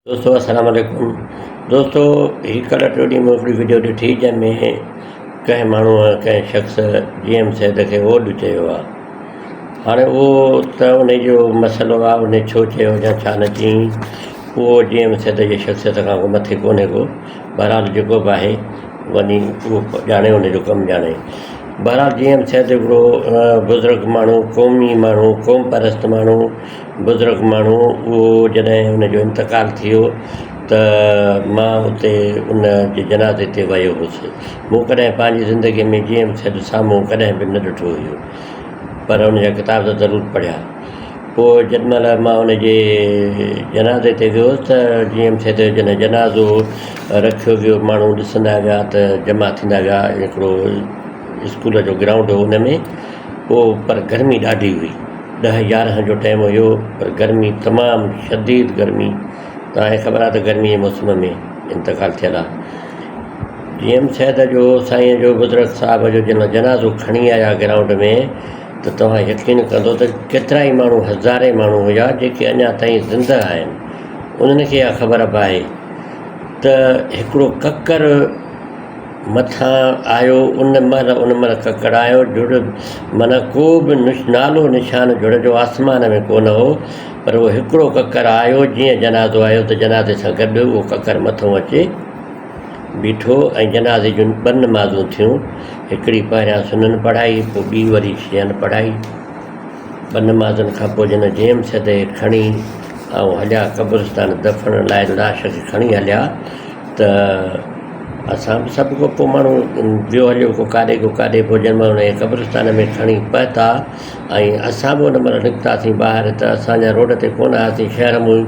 دوستو السلام عليڪم دوستو هي ڪلهه ٽي ڏينهن هڪڙي وڊيو ڏٺي جنهن ۾ ڪنهن ماڻهوء ڪنهن شخص جي ايم سيد کي اوڏ چيو آ هاڻي اهو ته ان جو مسئلو آ ان ڇو چيو يا ڇا نه چيائين اهو جي ايم سيد جي شخصيت کان ڪو مٿي ڪونهي ڪو بهرحال جيڪو به آهي وڃي اهو ڄاڻي ان جو ڪم ڄاڻي بهرحال جي ايم سيد هڪڙو بزرگ ماڻهو قومي ماڻهو قوم پرست ماڻهو بزرگ ماڻهو اهو جڏهن ان جو انتقال ٿيو ته مان اتي ان جي جنازي تي ويو هوس. مون ڪڏهن پنهنجي زندگيء ۾ جيئن به سيد سامهون ڪڏهن به نه ڏٺو هيو پر ان جا ڪتاب ته ضرور پڙهيا. پوء جيڏ مهل مان ان جي جنازي تي ويو هوس ته جيئن سيد جو جڏهن جنازو رکيو ويو ماڻهو ڏسندا ويا ته جمع ٿيندا ويا هڪڙو اسڪول جو گرائونڊ هو ان ۾. هو پر گرمي ڏاڍي هئي. ڏهه يارهن جو ٽيم هيو پر گرمي تمام شديد گرمي توهان کي خبر آهي ته گرمي جي موسم ۾ انتقال ٿيل آهي. جي ايم سيد جو سائين جو بزرگ صاحب جو جن جنازو کڻي آيا گرائونڊ ۾ ته توهان يقين ڪندو ته ڪيترا ئي ماڻهو هزارين ماڻهو هيا جيڪي اڃا تائين زنده آهن انهن کي اها خبر به آهي ته هڪڙو ڪڪر مٿان آيو ان مهل ان مهل ڪڪڙايو جڙ معنيٰ ڪو به نالو نشان جڙ جو آسمان ۾ ڪونه هو پر اهو هڪڙو ڪڪر آيو جيئن جنازو آيو ته جنازي سان گڏ اهو ڪڪر مٿو اچي بيٺو ۽ جنازي جون ٻه نمازون ٿيون هڪڙي پهريان سنن پڙهائي پوء ٻي وري شين پڙهائي ٻه نمازن کان پوء جن جيم سدي کڻي آئون هليا قبرستان دفن لاء لاش کي کڻي هليا ته اسان به سڀ ڪو ڪو ماڻهو ويو هليو ڪو ڪاڏي ڪو ڪاڏي پوء جنهن مهل ان کي قبرستان ۾ کڻي پهتا ۽ اسان به ان مهل نڪتاسين ٻاهر ته اسان اڃا روڊ تي ڪونه آياسين شهر مون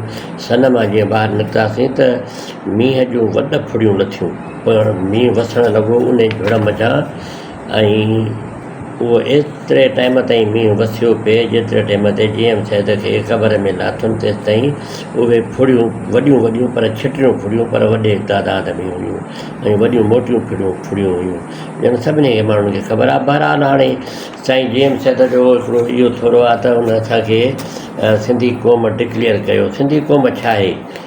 سن مان جيئن ٻاهر نڪتاسين ته مينهن جون وڏ ڦڙيون لٿيون پوء مينهن وسڻ لڳو انهي جهڙ منجهان ۽ اهو ايتري ٽائيم تائين مينهن وسيو پئي جيتري ٽائيم تي جي ايم سيد کي قبر ۾ لاٿم تيستائين اهي ڦڙيون وڏيون وڏيون پر ڇٽيون ڦڙيون پر وڏي تعداد ۾ هيون ۽ وڏيون موٽيون ڦڙيون ڦڙيون هيون ڄڻ سڀني کي ماڻهن کي خبر آهي بهرحال هاڻي سائين جي ايم سيد جو هڪڙو اهو ٿورو آهي ته ان اسان کي سنڌي قوم ڊڪليئر ڪيو سنڌي قوم ڇا آهي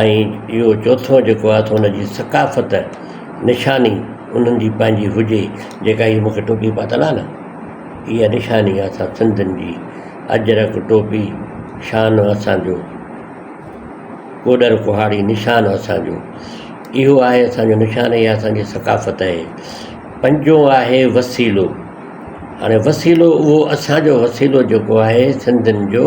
۽ اهو چوٿون جيڪو آهي سو ان جي ثقافت نشاني انهن جي پنهنجي هجي جيڪا هي مون کي ٽوپي پاتل آهي نه اها نشاني آهي اسان سنڌين جي اجرڪ ٽوپي شان اسانجو ڪوڏر ڪهاڙي نشان اسانجو اهو آهي اسانجو نشان اها اسانجي ثقافت اهي پنجون آهي وسيلو هاڻي وسيلو اهو اسانجو وسيلو جيڪو آهي سنڌين جو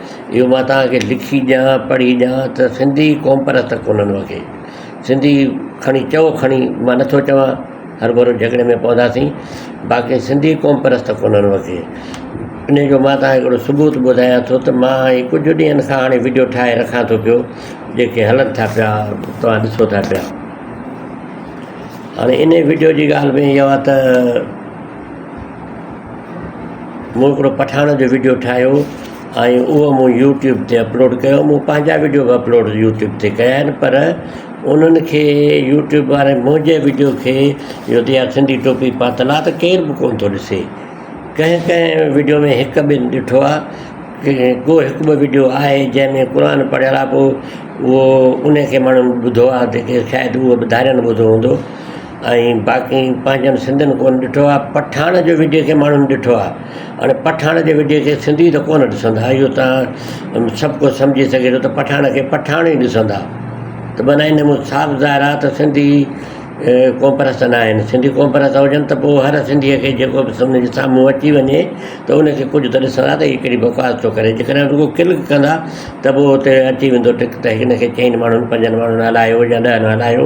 اهو مان توهان کي لکي ڏيان پڙهي ڏيان ته سنڌي قوم پرست ڪونه هئا ڪي سنڌي کڻي چئو کڻي مان نٿو چواں هر ڀرو جهڳڙي ۾ پونداسين باقي سنڌي قوم پرست ڪونه هئا ڪي ان جو مان توهان کي هڪڙو ثبوت ٻڌايان ٿو ته مان هي ڪجهه ڏينهن کان هاڻي وڊيو ٺاهي رکان ٿو پيو جيڪي هلن ٿا پيا توهان ڏسو ٿا پيا هاڻي ان وڊيو جي ڳالهه ۾ اهو آهي ته مون هڪڙو پٺاڻ جو وڊيو ٺاهيو ۽ اهو مون يوٽيوب تي اپلوڊ ڪيو مون پنهنجا وڊيو به اپلوڊ يوٽيوب تي ڪيا آهن پر انهن کي يوٽيوب واري منهنجي وڊيو کي جو تي آ سنڌي ٽوپي پاتل آ ته ڪير به ڪونه ٿو ڏسي ڪنهن ڪنهن وڊيو ۾ هڪ ٻن ڏٺو آ ڪي ڪو هڪ ٻه وڊيو آهي جنهن ۾ قرآن پڙهيل آ پو اهو انهي کي ماڻهن ٻڌو آ جيڪي شايد اهو به ڌارين ٻڌو هوندو ۽ باقي پنهنجن سنڌين ڪونه ڏٺو آ پٺاڻ جو وڊيو کي ماڻهن ڏٺو آ هاڻي پٺاڻ جي وڊيو کي سنڌي ته ڪونه ڏسندا اهو تان سڀ ڪو سمجهي سگهي ٿو ته پٺاڻ کي پٺاڻ ئي ڏسندا ته بنا ان مون صاف ظاهر آ ته سنڌي قوم پرست نه آهن سنڌي قوم پرست هجن ته پو هر سنڌيء کي جيڪو به سنڌ جي سامهون اچي وڃي ته ان کي ڪجهه ته ڏسندا ته هي ڪهڙي بڪواس ٿو ڪري جي ڪڏهن رڳو ڪلڪ ڪندا ته پو اتي اچي ويندو ٽڪ ته هن کي چئن ماڻهن پنجن ماڻهن هلايو يا ڏهن هلايو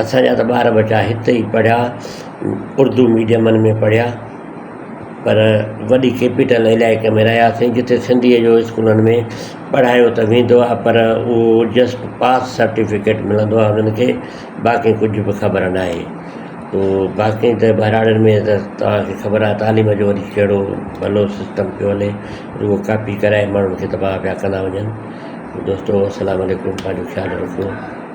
اسان جا ته ٻار ٻچا هت ئي پڙهيا، اردو ميڊيمن ۾ پڙهيا، پر وڏي ڪيپيٽل علائقي ۾ رهياسين، جتي سنڌيء جو اسڪولن ۾ پڙهايو ته ويندو آهي، پر اهو جسٽ پاس سرٽيفڪيٽ ملندو آهي انهن کي، باقي ڪجهه به خبر ناهي. تو باقي ته ٻهراڙين ۾ ته توهان کي خبر آهي تعليم جو وري ڪهڙو ڀلو سسٽم پيو هلي، رڳو ڪاپي ڪرائي ماڻهن کي تباهه پيا ڪندا وڃن. دوستو السلام عليڪم، پنهنجو خيال رکو.